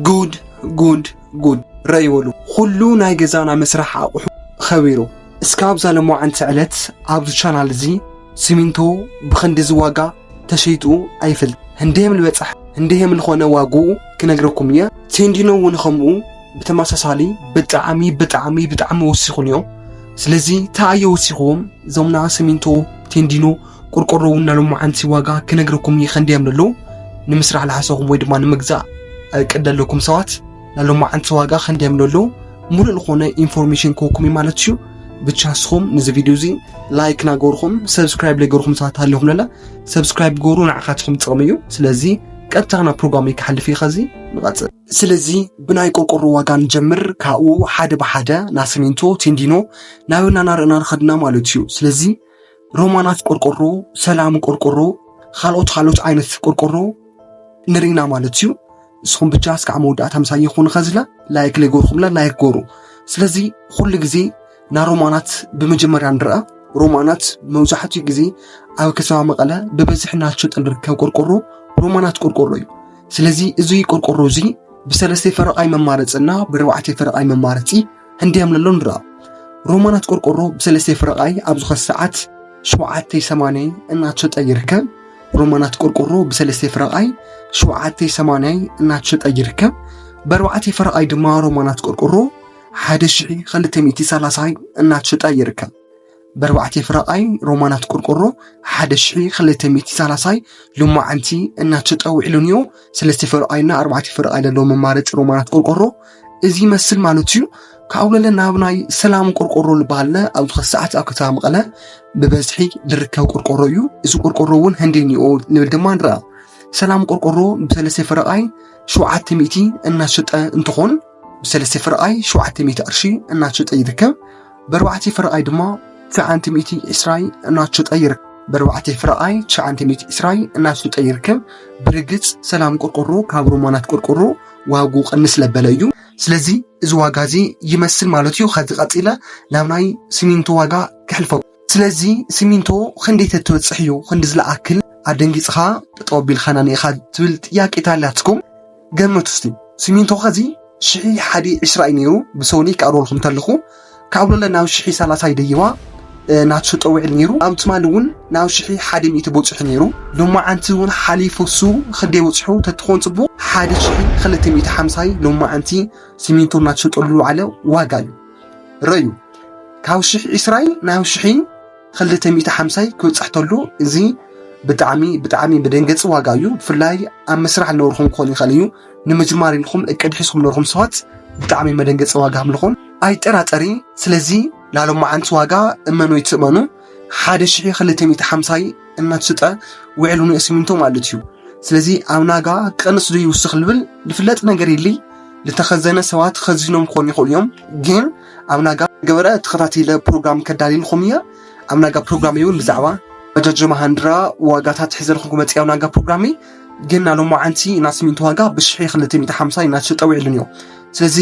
ጉድ ጉድ ጉድ ረይ በሉ ኹሉ ናይ ገዛና መስራሕ ኣቑሑ ኸቢሩ እስካ ኣብዛ ለማዓንቲ ዕለት ኣብዚ ቻናል እዚ ሲሚንቶ ብኽንዲ ዝዋጋ ተሸይጡ ኣይፈልጥ ህንደየም ልበፃሕ ህንደየም ልኾነ ዋግኡ ክነግረኩም እየ ቴንዲኖ እውን ኸምኡ ብተመሳሳሊ ብጣዕሚ ብጣዕሚ ብጣዕሚ ወሲኹን እዮም ስለዚ ተኣየ ወሲኹዎም ዞምና ሲሚንቶ ቴንዲኖ ቆርቆሮ እውን ናይ ሎማዓንቲ ዋጋ ክነግረኩም እዩ ከንደይ እዮም ዘለዉ ንምስራሕ ዝሓሰኹም ወይ ድማ ንምግዛእ እቅድ ዘለኩም ሰባት ናይ ሎማዓንቲ ዋጋ ከንደይ እዮም ዘለዉ ሙሉእ ዝኾነ ኢንፎርሜሽን ክወኩም እዩ ማለት እዩ ብቻ ንስኹም ንዚ ቪድዮ እዚ ላይክ ናገርኹም ሰብስክራይብ ለገርኹም ሰባት ኣለኹም ለላ ሰብስክራይብ ገሩ ንዓኻትኹም ጥቕሚ እዩ ስለዚ ቀጥታ ናብ ፕሮግራም ክሓልፍ እዩ ከዚ ንቐፅል ስለዚ ብናይ ቆርቆሮ ዋጋ ንጀምር ካብኡ ሓደ ብሓደ ናይ ሲሚንቶ ቴንዲኖ ናበና ናርእና ንኸድና ማለት እዩ ስለዚ ሮማናት ቆርቆሮ፣ ሰላም ቆርቆሮ፣ ካልኦት ካልኦት ዓይነት ቆርቆሮ ንርኢና ማለት እዩ። ንስኹም ብቻ እስካዕ መወዳእታ ምሳይ ይኹን ከዝለ ላይክ ለይጎርኹምለ ላይክ ጎሩ። ስለዚ ኩሉ ግዜ ናይ ሮማናት ብመጀመርያ ንርአ። ሮማናት መብዛሕትኡ ግዜ ኣብ ከተማ መቐለ ብበዝሒ እናተሸጠ ዝርከብ ቆርቆሮ ሮማናት ቆርቆሮ እዩ። ስለዚ እዚ ቆርቆሮ እዚ ብሰለስተ ፈረቓይ መማረፂ እና ብርባዕተ ፈረቓይ መማረፂ ህንድያ ምለሎ ንራ ሮማናት ቆርቆሮ ብሰለስተ ፍረቃይ ኣብ ዝኾነ ሰዓት ሸውዓተይ ሰማንያይ እናተሸጠ ይርከብ ሮማናት ቆርቆሮ ብሰለስተ ፍረቃይ ሸውዓተይ ሰማንያይ እናተሸጠ ይርከብ በርባዕተይ ፍረቃይ ድማ ሮማናት ቆርቆሮ ሓደ ሽሒ ክልተ ሚእቲ ሰላሳይ እናተሸጠ ይርከብ በርባዕተ ፍረቓይ ሮማናት ቆርቆሮ ሓደ ሽሒ ክልተ ሚእቲ ሳላሳይ ሎማዓንቲ እናተጠውዒሉንዮ ሰለስተ ፍረቓይና ኣርባዕተ ፍረቓይ ዘለዎ መማረፂ ሮማናት ቆርቆሮ እዚ ይመስል ማለት እዩ ካብኡ ለለ ናብ ናይ ሰላም ቆርቆሮ ዝበሃለ ኣብዚ ኸዚ ሰዓት ኣብ ከተማ መቐለ ብበዝሒ ዝርከብ ቆርቆሮ እዩ እዚ ቆርቆሮ እውን ህንዴኒኦ ንብል ድማ ንረኣ ሰላም ቆርቆሮ ብሰለስተ ፍረቓይ ሸውዓተ ሚእቲ እናሸጠ እንትኾን ብሰለስተ ፍርቓይ ሸውዓተ ሚእቲ ቅርሺ እናሸጠ ይርከብ። በርባዕተ ፍርቓይ ድማ ትሽዓንተ ሚእቲ ዕስራይ እናሸጠ ይርከብ። በርባዕተ ፍርቓይ ትሽዓንተ ሚእቲ ዕስራይ እናሸጠ ይርከብ። ብርግፅ ሰላም ቆርቆሮ ካብ ሮማናት ቆርቆሮ ዋጉ ቅንስ ለበለ እዩ። ስለዚ እዚ ዋጋ እዚ ይመስል ማለት እዩ። ከዚ ቀፂለ ናብ ናይ ሲሚንቶ ዋጋ ክሕልፈኩም። ስለዚ ስሚንቶ ክንደይ ተትበፅሕ እዩ ክንዲ ዝለኣክል ኣደንጊፅኻ ጠጠው ኣቢልካና ኒኢኻ ትብል ጥያቄ ተሃልያትኩም ገመቱ እስቲ ስሚንቶ ከዚ ሽሒ ሓዲ ዕስራ እዩ ነይሩ ብሰውኒ ክኣርበልኩም ተለኹ ካብ ሎለ ናብ ሽሒ ሰላሳ ይደይባ ናትሸጦ ውዕል ነይሩ ኣብ ትማሊ እውን ናብ ሽሒ ሓደ ሚእቲ በፂሑ ነይሩ ሎማዓንቲ እውን ሓሊፉ እሱ ክንደይ በፂሑ ተትኾን ፅቡቅ ሓደ ሽሒ ክልተ ሚእቲ ሓምሳይ ሎማዓንቲ ስሚንቶ ናትሸጠሉ ዝውዓለ ዋጋ እዩ ረዩ ካብ ሽሕ ዒስራይ ናብ ሽሒ ክልተ ሚእቲ ሓምሳይ ክብፃሕ ተሎ እዚ ብጣዕሚ ብጣዕሚ መደንገፂ ዋጋ እዩ ብፍላይ ኣብ መስራሕ ዝነበርኩም ክኾን ይኽእል እዩ ንምጅማር ኢልኩም እቅድ ሒዝኩም ነበርኩም ሰባት ብጣዕሚ መደንገፂ ዋጋ ምልኹም ኣይጠራጠሪ ስለዚ ናሎም መዓንቲ ዋጋ እመኑ ይትእመኑ ሓደ ሽሕ ክልተ ሚእቲ ሓምሳይ እናተሸጠ ውዕሉ ንእስሚንቶ ማለት እዩ። ስለዚ ኣብ ናጋ ቀንስ ዶ ይውስኽ ልብል ልፍለጥ ነገር የለይ ልተኸዘነ ሰባት ኸዚኖም ክኾኑ ይኽእሉ እዮም። ግን ኣብ ናጋ ገበረ ተኸታቲለ ፕሮግራም ከዳልልኹም እየ። ኣብ ናጋ ፕሮግራም እውን ብዛዕባ መጃጆ መሃንድራ ዋጋታት ሕዘልኹም ክመፅ ኣብ ናጋ ፕሮግራሚ ግን ናብ ሎማዓንቲ ናስሚንቶ ዋጋ ብሽሕ ክልተ ሚእቲ ሓምሳይ እናተሸጠ ውዕሉን እዩ። ስለዚ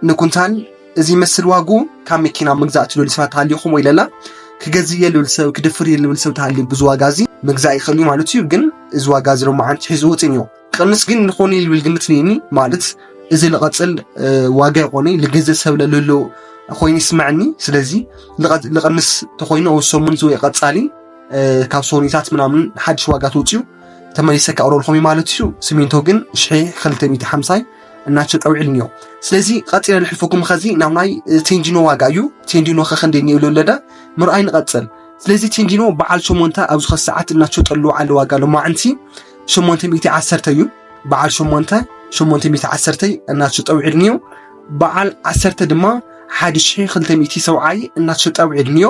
ንኩንታል እዚ ይመስል ዋግኡ ካብ መኪና ምግዛእ ትደልዩ ሰባት ተሃሊኹም ወይ ለላ ክገዝእ እየ ልብል ሰብ ክድፍር እየ ልብል ሰብ ተሃልዩ ብዚ ዋጋ እዚ ምግዛእ ይኽእል እዩ ማለት እዩ ግን እዚ ዋጋ እዚ ሎሚ ዓንቲ ሒዙ ውፅን እዩ ቅንስ ግን ንኾኑ ልብል ግምት ነኒ ማለት እዚ ልቐፅል ዋጋ ይኾነ ልገዝእ ሰብ ለልሎ ኮይኑ ይስምዐኒ ስለዚ ልቐንስ ተኾይኑ ኣብ ሰሙን ዝወይ ቀፃሊ ካብ ሶኒታት ምናምን ሓድሽ ዋጋ ተውፅኡ ተመሊሰ ከቕረልኩም ማለት እዩ ስሚንቶ ግን ሽሒ 250 እናቸው ጠውዒልኒ እዮም ስለዚ ቐፂለ ልሕልፈኩም ኸዚ ናብ ናይ ቴንዲኖ ዋጋ እዩ ቴንዲኖ ኸኸንደ እኒብሉ ኣለደ ምርኣይ ንቐፅል ስለዚ ቴንዲኖ በዓል ሸሞንተ ኣብ ዝኸ ሰዓት እናቸው ጠልዎ ዓለ ዋጋ ሎማዕንቲ ሸሞንተ ሚእቲ ዓሰርተ እዩ በዓል ሸሞንተ ሸሞንተ ሚእቲ ዓሰርተ እናቸው ጠውዒልኒ እዩ በዓል ዓሰርተ ድማ ሓደ ሽሒ ክልተ ሚእቲ ሰብዓይ እናቸው ጠውዒልኒ እዩ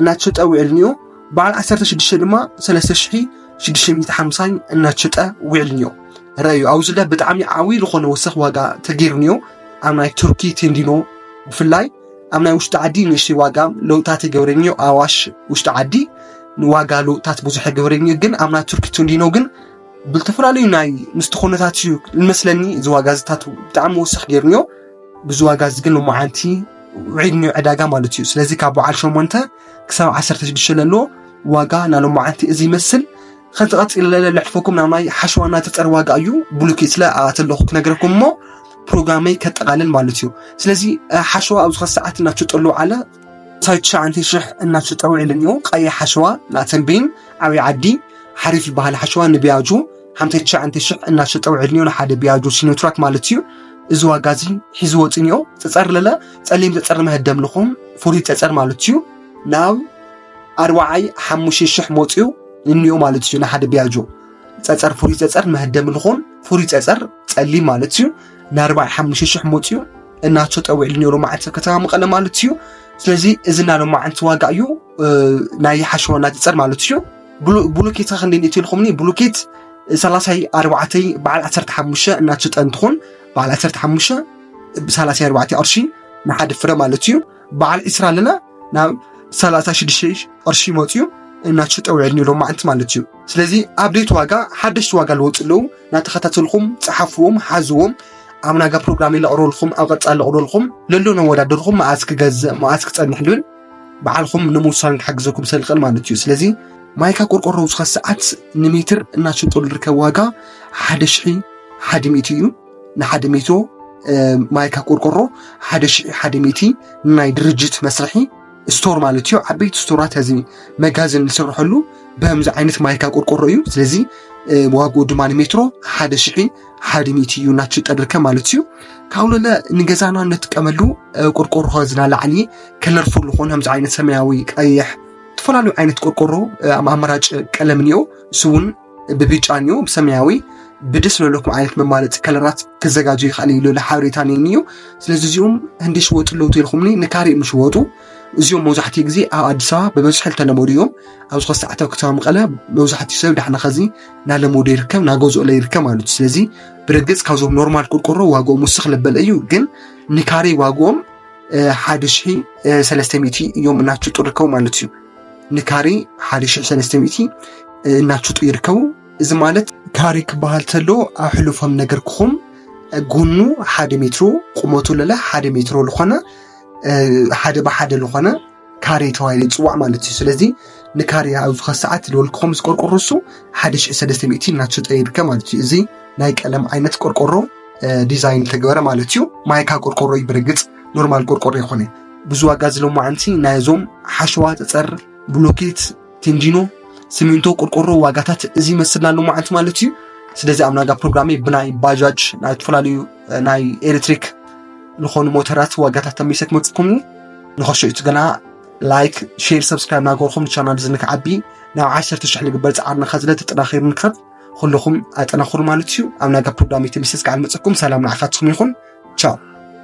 እናተሸጠ ውዒልንዮ በዓል 16 ድማ 3650 እናተሸጠ ውዒልንዮ ረዩ ኣብዚ ለ ብጣዕሚ ዓብዪ ዝኾነ ወሰኽ ዋጋ ተገይሩንዮ ኣብ ናይ ቱርኪ ቴንዲኖ ብፍላይ ኣብ ናይ ውሽጢ ዓዲ ንእሽተይ ዋጋ ለውጥታት የገብረንዮ ኣዋሽ ውሽጢ ዓዲ ንዋጋ ለውጥታት ብዙሕ የገብረንዮ ግን ኣብ ናይ ቱርኪ ቴንዲኖ ግን ብልተፈላለዩ ናይ ምስቲ ኩነታት እዩ ንመስለኒ እዚ ዋጋ ዝታት ብጣዕሚ ወሰኽ ገይሩንዮ ብዙ ዋጋ እዚ ግን ሎማዓንቲ ውዒድ ኒው ዕዳጋ ማለት እዩ ስለዚ ካብ በዓል ሸሞንተ ክሳብ ዓሰርተ ሽዱሽተ ለሎ ዋጋ ናይ ሎማዓንቲ እዚ ይመስል ከንቲ ቀፂለ ለሕልፈኩም ናብ ናይ ሓሸዋ ናይ ተፀር ዋጋ እዩ ብሉኪ ስለ ኣተለኹ ክነግረኩም እሞ ፕሮግራመይ ከጠቃልል ማለት እዩ ስለዚ ሓሸዋ ኣብዚ ከ ሰዓት እናተጠሉ ዓለ ሳይ ትሽዓንተ ሽሕ እናተሸጠ ውዒሉ እኒኦ ቀይሕ ሓሸዋ ናተንቤን ዓብይ ዓዲ ሓሪፍ ዝበሃል ሓሸዋ ንቢያጁ ሓምሳ ትሽዓተ ሽሕ እናሸጠ ውዕድንዮ ንሓደ ቢያጆ ሲኖትራክ ማለት እዩ እዚ ዋጋ እዚ ሒዚ ወፅንዮ ፀፀር ለለ ፀሊም ፀፀር መህደም ልኹም ፍሉይ ፀፀር ማለት እዩ ናብ ኣርባዓይ ሓሙሽተ ሽሕ መፅኡ እንዮ ማለት እዩ ንሓደ ቢያጆ ፀፀር ፍሉይ ፀፀር መህደም ልኹም ፍሉይ ፀፀር ፀሊም ማለት እዩ ንኣርባዓይ ሓሙሽተ ሽሕ መፅኡ እናሸጠ ውዕድንዮ ሎማዓንቲ ኣብ ከተማ መቐለ ማለት እዩ ስለዚ እዚ ናይ ሎማዓንቲ ዋጋ እዩ ናይ ሓሸዋና ፀፀር ማለት እዩ ብሉኪት ክንዲን እቲ ኢልኹምኒ ብሉኪት ሰላሳይ ኣርባዕተይ በዓል ዓሰርተ ሓሙሽተ እናትሽጠ እንትኾን በዓል ዓሰርተ ሓሙሽተ ብሰላሳይ ኣርባዕተ ቅርሺ ንሓደ ፍረ ማለት እዩ በዓል ዕስራ ኣለና ናብ ሰላሳ ሽዱሽተ ቅርሺ መፅዩ እናትሽጠ ውዕል ኒሎም ማዓንቲ ማለት እዩ ስለዚ ኣብዴት ዋጋ ሓደሽቲ ዋጋ ልወፅ ኣለዉ እናተኸታተልኩም ፀሓፍዎም ሓዝዎም ኣብ ናጋ ፕሮግራም ለቕርበልኩም ኣብ ቐፃ ለቕርበልኩም ለሎ ነወዳደርኩም መዓዝ ክገዝእ መዓዝ ክፀንሕ ልብል ባዕልኹም ንምውሳን ክሕግዘኩም ሰልቀን ማለት እዩ ስለዚ ማይካ ቆርቆሮ ዝኸ ሰዓት ንሜትር እናሸጦ ዝርከብ ዋጋ ሓደ ሽሒ ሓደ ሚእቲ እዩ ንሓደ ሚቶ ማይካ ቆርቆሮ ሓደ ሽሒ ሓደ ሚእቲ ናይ ድርጅት መስርሒ ስቶር ማለት እዩ ዓበይቲ ስቶራት እዚ መጋዘን ዝስርሐሉ በምዚ ዓይነት ማይካ ቆርቆሮ እዩ ስለዚ ዋግኡ ድማ ንሜትሮ ሓደ ሽሒ ሓድሚት እዩ እናትሽጠድርከ ማለት እዩ ካብለለ ንገዛና እንጥቀመሉ ቆርቆሮ ከዝና ላዕሊ ከለርፉል ዝኾነ ከምዚ ዓይነት ሰማያዊ ቀይሕ ዝተፈላለዩ ዓይነት ቆርቆሮ ኣማራጭ ቀለም እኒኦ እሱ እውን ብብጫ እኒኦ ብሰማያዊ ብደስ ዘለኩም ዓይነት መማረፂ ከለራት ክዘጋጀ ይኽእል እዩ ልለ ሓበሬታ ነኒ እዩ ስለዚ እዚኦም ህንዲ ሽወጡ ኣለዉ ተልኩምኒ ንካሪእ ምሽወጡ እዚኦም መብዛሕትኡ ግዜ ኣብ ኣዲስ ኣበባ ብበዝሒ ዝተለመዱ እዮም ኣብ ዝኸ ሰዓታዊ ከተማ መቐለ መብዛሕትኡ ሰብ ዳሕና ኸዚ እናለመዶ ይርከብ እናገዝኦለ ይርከብ ማለት እዩ ስለዚ ብርግፅ ካብዞም ኖርማል ቆርቆሮ ዋግኦም ውስኽ ለበለ እዩ ግን ንካሬ ዋግኦም ሓደ ሺ ሰለስተ ሚእቲ እዮም እናሽጡ ይርከቡ ማለት እዩ ንካሬ ሓደ ሺ ሰለስተ ሚእቲ እናሽጡ ይርከቡ እዚ ማለት ካሬ ክበሃል ተሎ ኣብ ሕሉፎም ነገር ክኹም ጎኑ ሓደ ሜትሮ ቁመቱ ለለ ሓደ ሜትሮ ዝኾነ ሓደ ብሓደ ዝኾነ ካሬ ተባሂሉ ይፅዋዕ ማለት እዩ ስለዚ ንካሬ ኣብ ዝኸ ሰዓት ዝደወልክኹም ምስ ቆርቆሮ እሱ ሓደ ሽሕ ሰለስተ ሚእቲ እናተሸጠ ይርከብ ማለት እዩ እዚ ናይ ቀለም ዓይነት ቆርቆሮ ዲዛይን ተገበረ ማለት እዩ ማይካ ቆርቆሮ እዩ ብርግፅ ኖርማል ቆርቆሮ ይኾነ ብዙ ዋጋ ዝለማዓንቲ ናይዞም ሓሸዋ ፀፀር ብሎኬት ቴንጂኖ ሲሚንቶ ቆርቆሮ ዋጋታት እዚ ይመስልና ኣሎ ማለት ማለት እዩ ስለዚ ኣብ ናጋ ፕሮግራሜ ብናይ ባጃጅ ናይ ዝተፈላለዩ ናይ ኤሌክትሪክ ዝኾኑ ሞተራት ዋጋታት ተመይሰ ክመፅኩም እዩ ንኸሾ እዩ ገና ላይክ ሼር ሰብስክራይብ ናገርኩም ቻናል እዚ ንክዓቢ ናብ ዓሰርተ ሽሕ ንግበር ፃዕርና ከዝለ ተጠናኺሩ ንክብ ኩልኹም ኣጠናኽሩ ማለት እዩ ኣብ ናጋ ፕሮግራሜ ተመይሰ ዝከዓል መፅኩም ሰላም ንዓኻትኩም ይኹን ቻው